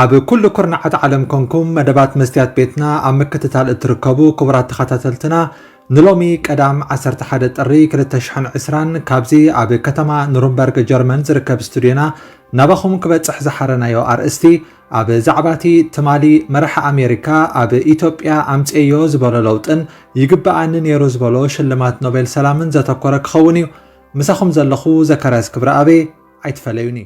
ኣብ ኩሉ ኩርናዓት ዓለም ኮንኩም መደባት መስትያት ቤትና ኣብ ምክትታል እትርከቡ ክቡራት ተኸታተልትና ንሎሚ ቀዳም ዓሰርተ ሓደ ጥሪ ክልተ ሽሕን ዕስራን ካብዚ ኣብ ከተማ ኑሩምበርግ ጀርመን ዝርከብ ስቱድዮና ናባኹም ክበጽሕ ዝሓረናዮ ኣርእስቲ ኣብ ዛዕባ እቲ ትማሊ መራሒ ኣሜሪካ ኣብ ኢትዮጵያ ኣምጽኤዮ ዝበሎ ለውጥን ይግበኣኒ ነይሩ ዝበሎ ሽልማት ኖቤል ሰላምን ዘተኮረ ክኸውን እዩ። ምሳኹም ዘለኹ ዘካርያስ ክብረኣቤ፣ ኣይትፈለዩኒ።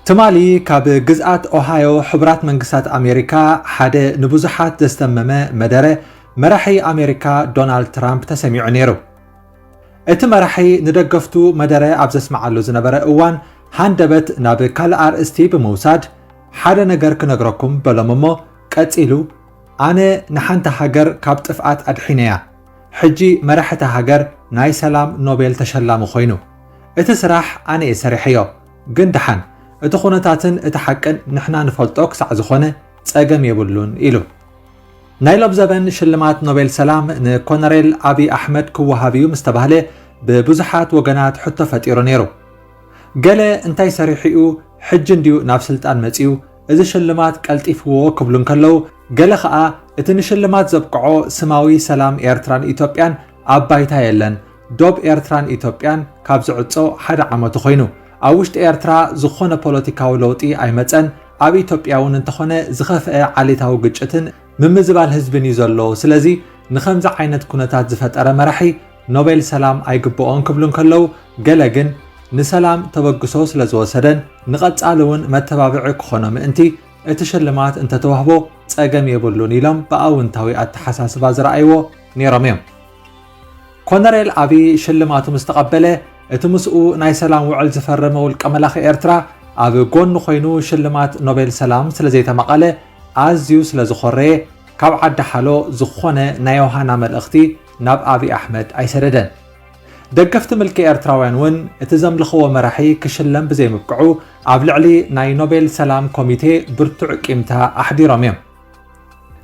ትማሊ ካብ ግዝኣት ኦሃዮ ሕቡራት መንግስታት ኣሜሪካ ሓደ ንብዙሓት ዘስተመመ መደረ መራሒ ኣሜሪካ ዶናልድ ትራምፕ ተሰሚዑ ነይሩ እቲ መራሒ ንደገፍቱ መደረ ኣብ ዘስምዓሉ ዝነበረ እዋን ሃንደበት ናብ ካልእ ኣርእስቲ ብምውሳድ ሓደ ነገር ክነግረኩም በሎም እሞ ቀጺሉ ኣነ ንሓንቲ ሃገር ካብ ጥፍኣት ኣድሒነያ ሕጂ መራሕቲ ሃገር ናይ ሰላም ኖቤል ተሸላሚ ኮይኑ እቲ ስራሕ ኣነ እየ ሰሪሐዮ ግን ድሓን እቲ ኩነታትን እቲ ሓቅን ንሕና ንፈልጦ ክሳዕ ዝኾነ ጸገም የብሉን ኢሉ። ናይ ሎብዘበን ሽልማት ኖቤል ሰላም ንኮነሬል ኣብይ ኣሕመድ ክወሃብ እዩ ምስተባህለ ብብዙሓት ወገናት ሕቶ ፈጢሩ ነይሩ። ገለ እንታይ ሰሪሑ'ዩ ሕጂ እንድዩ ናብ ስልጣን መጺኡ እዚ ሽልማት ቀልጢፍዎ ክብሉ እንከለዉ፣ ገለ ከኣ እቲ ንሽልማት ዘብቅዖ ስማዊ ሰላም ኤርትራን ኢትዮጵያን ኣብ ባይታ የለን፣ ዶብ ኤርትራን ኢትዮጵያን ካብ ዝዕጾ ሓደ ዓመቱ ኮይኑ፣ ኣብ ውሽጢ ኤርትራ ዝኾነ ፖለቲካዊ ለውጢ ኣይመጸን፣ ኣብ ኢትዮጵያ'ውን እንተኾነ ዝኸፍኤ ዓሌታዊ ግጭትን ምምዝባል ህዝብን እዩ ዘሎ ስለዚ ንኸምዚ ዓይነት ኩነታት ዝፈጠረ መራሒ ኖቤል ሰላም ኣይግበኦን ክብሉ እንከለው ገለ ግን ንሰላም ተበግሶ ስለዝወሰደን ንቐፃሊ እውን መተባብዒ ክኾኖ ምእንቲ እቲ ሽልማት እንተተዋህቦ ፀገም የብሉን ኢሎም ብኣውንታዊ ኣተሓሳስባ ዝረኣይዎ ነይሮም እዮም። ኮነሬል ኣብይ ሽልማቱ ምስ ተቐበለ፣ እቲ ምስኡ ናይ ሰላም ውዕል ዝፈረመ ውልቀ መላኺ ኤርትራ ኣብ ጎኑ ኮይኑ ሽልማት ኖቤል ሰላም ስለ ዘይተማቐለ ኣዝዩ ስለ ዝኾረየ ካብ ዓዲ ሓሎ ዝኾነ ናይ ዮሃና መልእኽቲ ናብ ኣብይ ኣሕመድ ኣይሰደደን። ደገፍቲ ምልኪ ኤርትራውያን እውን እቲ ዘምልኽዎ መራሒ ክሽለም ብዘይምብቅዑ ኣብ ልዕሊ ናይ ኖቤል ሰላም ኮሚቴ ብርቱዕ ቂምታ ኣሕዲሮም እዮም።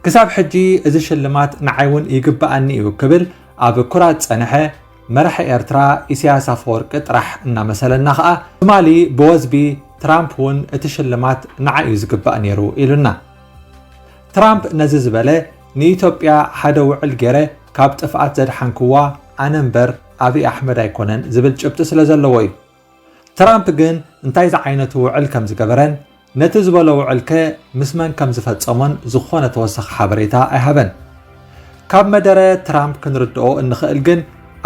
ክሳብ ሕጂ እዚ ሽልማት ንዓይ እውን ይግበኣኒ እዩ ክብል ኣብ ኩራት ዝጸንሐ መራሒ ኤርትራ ኢሳያስ ኣፈወርቂ ጥራሕ እናመሰለና ከኣ ትማሊ ብወዝቢ ትራምፕ እውን እቲ ሽልማት ንዓይ እዩ ዝግባእ ነይሩ ኢሉና። ትራምፕ ነዚ ዝበለ ንኢትዮጵያ ሓደ ውዕል ገይረ ካብ ጥፍኣት ዘድሓንክዋ ኣነ እምበር ኣብይ ኣሕመድ ኣይኮነን ዝብል ጭብጢ ስለዘለዎ እዩ። ትራምፕ ግን እንታይ ዝዓይነቱ ውዕል ከም ዝገበረን ነቲ ዝበሎ ውዕልከ ምስ መን ከም ዝፈጸሞን ዝኾነ ተወሳኺ ሓበሬታ ኣይሃበን። ካብ መደረ ትራምፕ ክንርድኦ እንኽእል ግን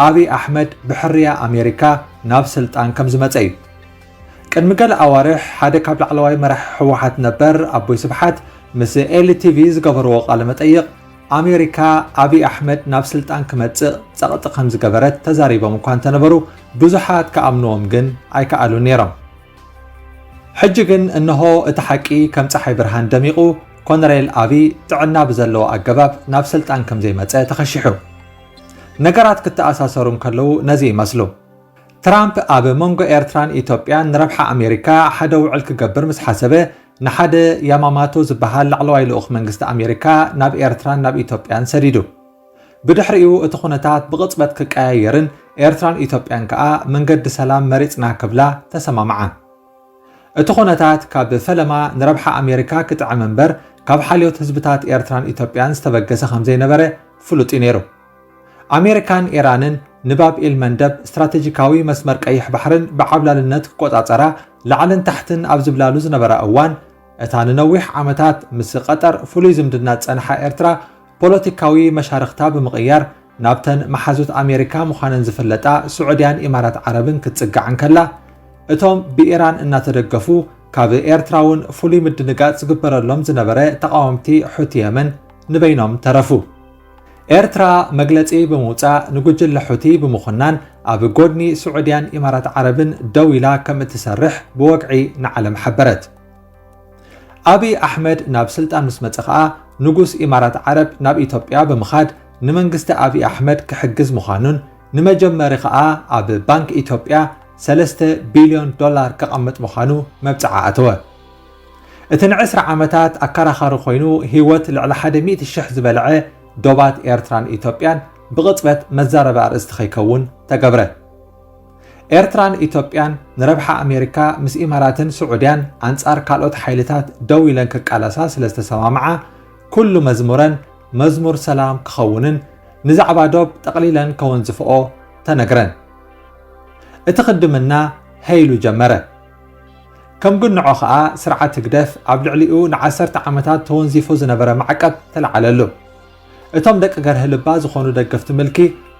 ኣብይ ኣሕመድ ብሕርያ ኣሜሪካ ናብ ስልጣን ከም ዝመጸ እዩ። ቅድሚ ገለ ኣዋርሕ ሓደ ካብ ላዕለዋይ መራሒ ህወሓት ነበር ኣቦይ ስብሓት ምስ ኤሊ ቲቪ ዝገበርዎ ቃለ መጠይቕ ኣሜሪካ ኣብይ ኣሕመድ ናብ ስልጣን ክመፅእ ፀቕጢ ከምዝገበረት ተዛሪቦም እኳ እንተነበሩ ብዙሓት ክኣምንዎም ግን ኣይከኣሉን ነይሮም። ሕጂ ግን እነሆ እቲ ሓቂ ከም ፀሓይ ብርሃን ደሚቑ ኮነሬል ኣብይ ጥዕና ብዘለዎ ኣገባብ ናብ ስልጣን ከምዘይመፀ ተኸሺሑ። ነገራት ክተኣሳሰሩ እንከለዉ ነዚ ይመስሉ። ትራምፕ ኣብ መንጎ ኤርትራን ኢትዮጵያን ንረብሓ ኣሜሪካ ሓደ ውዕል ክገብር ምስ ሓሰበ ንሓደ ያማማቶ ዝበሃል ላዕለዋይ ልኡኽ መንግስቲ ኣሜሪካ ናብ ኤርትራን ናብ ኢትዮጵያን ሰዲዱ። ብድሕሪኡ እቲ ኩነታት ብቕጽበት ክቀያየርን ኤርትራን ኢትዮጵያን ከኣ መንገዲ ሰላም መሪጽና ክብላ ተሰማምዓ። እቲ ኩነታት ካብ ፈለማ ንረብሓ ኣሜሪካ ክጥዕም እምበር ካብ ሓልዮት ህዝብታት ኤርትራን ኢትዮጵያን ዝተበገሰ ከምዘይነበረ ፍሉጥ እዩ ነይሩ። ኣሜሪካን ኢራንን ንባብ ኤል መንደብ፣ ስትራተጂካዊ መስመር ቀይሕ ባሕርን ብዓብላልነት ክቆጻጸራ ላዕልን ታሕትን ኣብ ዝብላሉ ዝነበራ እዋን፣ እታ ንነዊሕ ዓመታት ምስ ቐጠር ፍሉይ ዝምድና ዝጸንሓ ኤርትራ፣ ፖለቲካዊ መሻርኽታ ብምቕያር ናብተን መሓዙት ኣሜሪካ ምዃነን ዝፍለጣ ስዑድያን ኢማራት ዓረብን ክትጽጋዕ እንከላ፣ እቶም ብኢራን እናተደገፉ ካብ ኤርትራ'ውን ፍሉይ ምድንጋጽ ዝግበረሎም ዝነበረ ተቓወምቲ ሑቲ የመን ንበይኖም ተረፉ። ኤርትራ መግለጺ ብምውጻእ ንጉጅለ ሑቲ ብምኹናን ኣብ ጎድኒ ስዑድያን ኢማራት ዓረብን ደው ኢላ ከም እትሰርሕ ብወግዒ ንዓለም ሓበረት። ኣብይ ኣሕመድ ናብ ስልጣን ምስ መጸ ከኣ ንጉስ ኢማራት ዓረብ ናብ ኢትዮጵያ ብምኻድ ንመንግስቲ ኣብይ ኣሕመድ ክሕግዝ ምዃኑን ንመጀመሪ ከኣ ኣብ ባንክ ኢትዮጵያ ሰለስተ ቢልዮን ዶላር ከቐምጥ ምዃኑ መብጽዓ ኣተወ። እቲ ንዕስራ ዓመታት ኣከራኻሪ ኮይኑ ህይወት ልዕሊ ሓደ ሚእቲ ሽሕ ዝበልዐ ዶባት ኤርትራን ኢትዮጵያን ብቕጽበት መዛረቢ ኣርእስቲ ከይከውን ተገብረ። ኤርትራን ኢትዮጵያን ንረብሓ ኣሜሪካ ምስ ኢማራትን ስዑድያን ኣንጻር ካልኦት ሓይልታት ደው ኢለን ክቃለሳ ስለ ዝተሰማምዓ ኩሉ መዝሙረን መዝሙር ሰላም ክኸውንን ንዛዕባ ዶብ ጠቕሊለን ከወንዝፍኦ ተነግረን። እቲ ክድምና ሀይሉ ጀመረ። ከም ግንዖ ከኣ ስርዓት ህግደፍ ኣብ ልዕሊኡ ንዓሰርተ ዓመታት ተወንዚፉ ዝነበረ ማዕቀብ ተለዓለሉ። እቶም ደቂ ገርሂ ልባ ዝኾኑ ደገፍቲ ምልኪ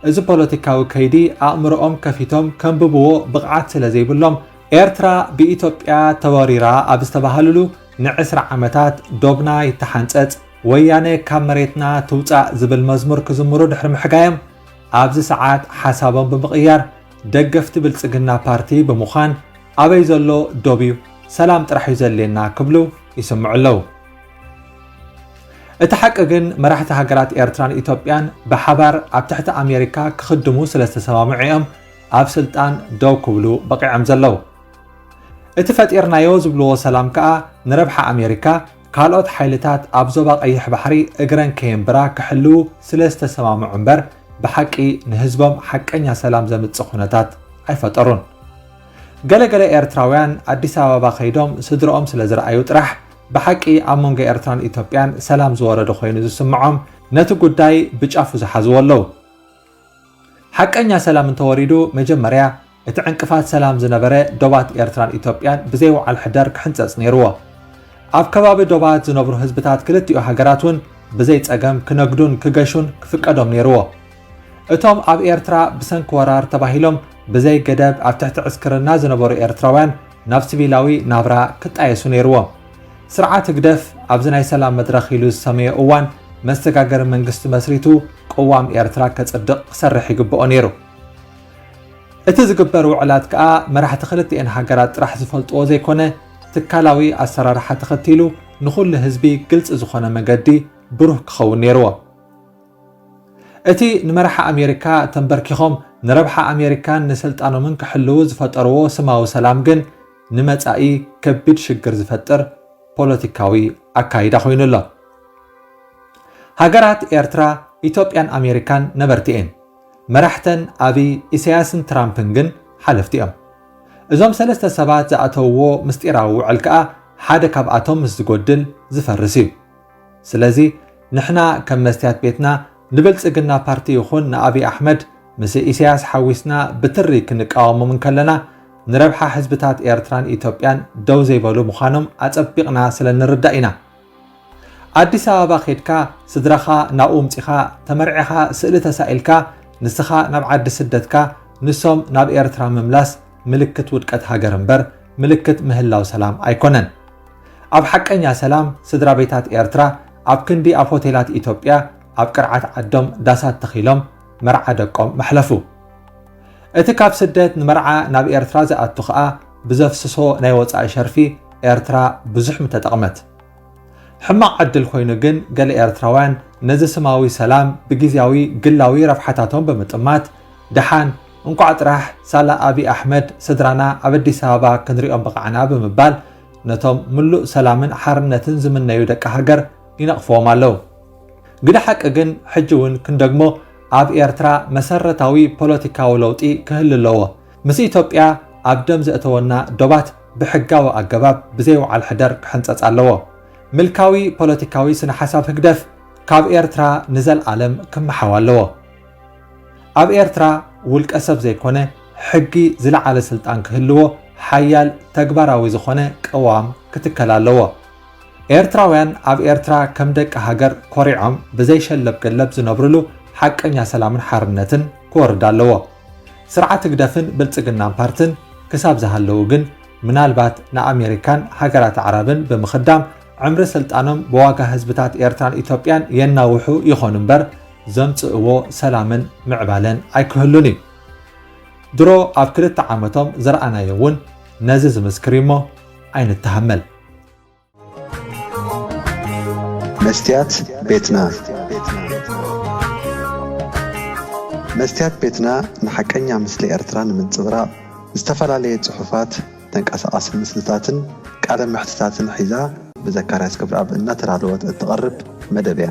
እዚ ፖለቲካዊ ከይዲ ኣእምሮኦም ከፊቶም ከንብብዎ ብቕዓት ስለ ዘይብሎም ኤርትራ ብኢትዮጵያ ተወሪራ ኣብ ዝተባሃልሉ ንዕስራ ዓመታት ዶብና ይተሓንጸጽ ወያነ ካብ መሬትና ትውጻእ ዝብል መዝሙር ክዝምሩ ድሕሪ ምሕጋዮም ኣብዚ ሰዓት ሓሳቦም ብምቕያር ደገፍቲ ብልፅግና ፓርቲ ብምዃን ኣበይ ዘሎ ዶብ እዩ ሰላም ጥራሕ እዩ ዘድልየና ክብሉ ይስምዑ ኣለዉ። እቲ ሓቂ ግን መራሕቲ ሃገራት ኤርትራን ኢትዮጵያን ብሓባር ኣብ ትሕቲ ኣሜሪካ ክኽድሙ ስለ ዝተሰማምዑ እዮም ኣብ ስልጣን ደው ክብሉ በቒዖም ዘለዉ። እቲ ፈጢርናዮ ዝብልዎ ሰላም ከኣ ንረብሓ ኣሜሪካ ካልኦት ሓይልታት ኣብ ዞባ ቀይሕ ባሕሪ እግረን ከየንብራ ክሕልዉ ስለ ዝተሰማምዑ እምበር ብሓቂ ንህዝቦም ሓቀኛ ሰላም ዘምጽእ ኩነታት ኣይፈጠሩን። ገለ ገለ ኤርትራውያን ኣዲስ ኣበባ ከይዶም ስድርኦም ስለ ዝረኣዩ ጥራሕ ብሓቂ ኣብ መንጎ ኤርትራን ኢትዮጵያን ሰላም ዝወረደ ኮይኑ ዝስምዖም ነቲ ጉዳይ ብጫፉ ዝሓዝዎ ኣለዉ። ሓቀኛ ሰላም እንተወሪዱ መጀመርያ እቲ ዕንቅፋት ሰላም ዝነበረ ዶባት ኤርትራን ኢትዮጵያን ብዘይ ውዓል ሕደር ክሕንጸጽ ነይርዎ። ኣብ ከባቢ ዶባት ዝነብሩ ህዝብታት ክልቲኡ ሃገራት እውን ብዘይ ጸገም ክነግዱን ክገሹን ክፍቀዶም ነይርዎ። እቶም ኣብ ኤርትራ ብሰንኪ ወራር ተባሂሎም ብዘይ ገደብ ኣብ ትሕቲ ዕስክርና ዝነበሩ ኤርትራውያን ናብ ስቪላዊ ናብራ ክጣየሱ ነይርዎ። ስርዓት ህግደፍ ኣብዚ ናይ ሰላም መድረኽ ኢሉ ዝሰመዮ እዋን መሰጋገሪ መንግስቲ መስሪቱ ቅዋም ኤርትራ ከጽድቕ ክሰርሕ ይግበኦ ነይሩ። እቲ ዝግበር ውዕላት ከኣ መራሕቲ ክልቲኤን ሃገራት ጥራሕ ዝፈልጥዎ ዘይኮነ ትካላዊ ኣሰራርሓ ተኸቲሉ ንኹሉ ህዝቢ ግልጺ ዝኾነ መገዲ ብሩህ ክኸውን ነይርዎ። እቲ ንመራሒ ኣሜሪካ ተምበርኪኾም ንረብሓ ኣሜሪካን ንስልጣኖምን ክሕልዉ ዝፈጠርዎ ስማዊ ሰላም ግን ንመጻኢ ከቢድ ሽግር ዝፈጥር ፖለቲካዊ ኣካይዳ ኮይኑ ኣሎ። ሃገራት ኤርትራ፣ ኢትዮጵያን ኣሜሪካን ነበርቲ እየን። መራሕተን ኣብይ፣ ኢሳያስን ትራምፕን ግን ሓለፍቲ እዮም። እዞም ሰለስተ ሰባት ዝኣተውዎ ምስጢራዊ ውዕል ከኣ ሓደ ካብኣቶም ምስ ዝጎድል ዝፈርስ እዩ። ስለዚ ንሕና ከም መስትያት ቤትና ንብልጽግና ፓርቲ ይኹን ንኣብይ ኣሕመድ ምስ ኢሰያስ ሓዊስና ብትሪ ክንቃወሞም እንከለና ንረብሓ ህዝብታት ኤርትራን ኢትዮጵያን ደው ዘይበሉ ምዃኖም ኣጸቢቕና ስለ እንርዳእ ኢና። ኣዲስ ኣበባ ኬድካ ስድራኻ ናብኡ ምጺኻ ተመርዒኻ ስእሊ ተሳኢልካ ንስኻ ናብ ዓዲ ስደትካ ንሶም ናብ ኤርትራ ምምላስ ምልክት ውድቀት ሃገር እምበር ምልክት ምህላው ሰላም ኣይኮነን። ኣብ ሓቀኛ ሰላም ስድራቤታት ኤርትራ ኣብ ክንዲ ኣብ ሆቴላት ኢትዮጵያ ኣብ ቅርዓት ዓዶም ዳሳት ተኺሎም መርዓ ደቆም መሕለፉ። እቲ ካብ ስደት ንመርዓ ናብ ኤርትራ ዝኣቱ ከኣ ብዘፍስሶ ናይ ወጻኢ ሸርፊ ኤርትራ ብዙሕ ምተጠቕመት። ሕማቕ ዕድል ኮይኑ ግን ገለ ኤርትራውያን ነዚ ስማዊ ሰላም ብግዝያዊ ግላዊ ረብሓታቶም ብምጥማት ደሓን እንቋዕ ጥራሕ ሳላ ኣቢይ ኣሕመድ ስድራና ኣብ ኣዲስ ኣበባ ክንሪኦም በቓዕና ብምባል ነቶም ምሉእ ሰላምን ሓርነትን ዝምነዩ ደቂ ሃገር ይነቕፍዎም ኣለው። ግደ ሓቂ ግን ሕጂ እውን ክንደግሞ ኣብ ኤርትራ መሰረታዊ ፖለቲካዊ ለውጢ ክህሊ ኣለዎ። ምስ ኢትዮጵያ ኣብ ደም ዘእተወና ዶባት ብሕጋዊ ኣገባብ ብዘይ ውዓል ሕደር ክሕንጸጽ ኣለዎ። ምልካዊ ፖለቲካዊ ስነ-ሓሳብ ህግደፍ ካብ ኤርትራ ንዘልኣለም ክመሓው ኣለዎ። ኣብ ኤርትራ ውልቀ-ሰብ ዘይኮነ ሕጊ ዝለዓለ ስልጣን ክህልዎ ሓያል ተግባራዊ ዝኾነ ቅዋም ክትከል ኣለዎ። ኤርትራውያን ኣብ ኤርትራ ከም ደቂ ሃገር ኮሪዖም ብዘይ ሸለብ-ገለብ ዝነብርሉ ሓቀኛ ሰላምን ሓርነትን ክወርድ ኣለዎ። ስርዓት ህግደፍን ብልጽግናን ፓርትን ክሳብ ዝሃለዉ ግን ምናልባት ንኣሜሪካን ሃገራት ኣዕራብን ብምኽዳም ዕምሪ ስልጣኖም ብዋጋ ህዝብታት ኤርትራን ኢትዮጵያን የናውሑ ይኾኑ እምበር ዘምጽእዎ ሰላምን ምዕባለን ኣይክህሉን እዩ። ድሮ ኣብ ክልተ ዓመቶም ዝረኣናዮ እውን ነዚ ዝምስክር እዩሞ ኣይንተሃመል። መስትያት ቤትና መስትያት ቤትና ንሓቀኛ ምስሊ ኤርትራ ንምንጽብራቕ ዝተፈላለየ ጽሑፋት፣ ተንቀሳቓሲ ምስልታትን ቃለ መሕትታትን ሒዛ ብዘካርያስ ገብረኣብ እናተዳለወት እትቐርብ መደብ እያ።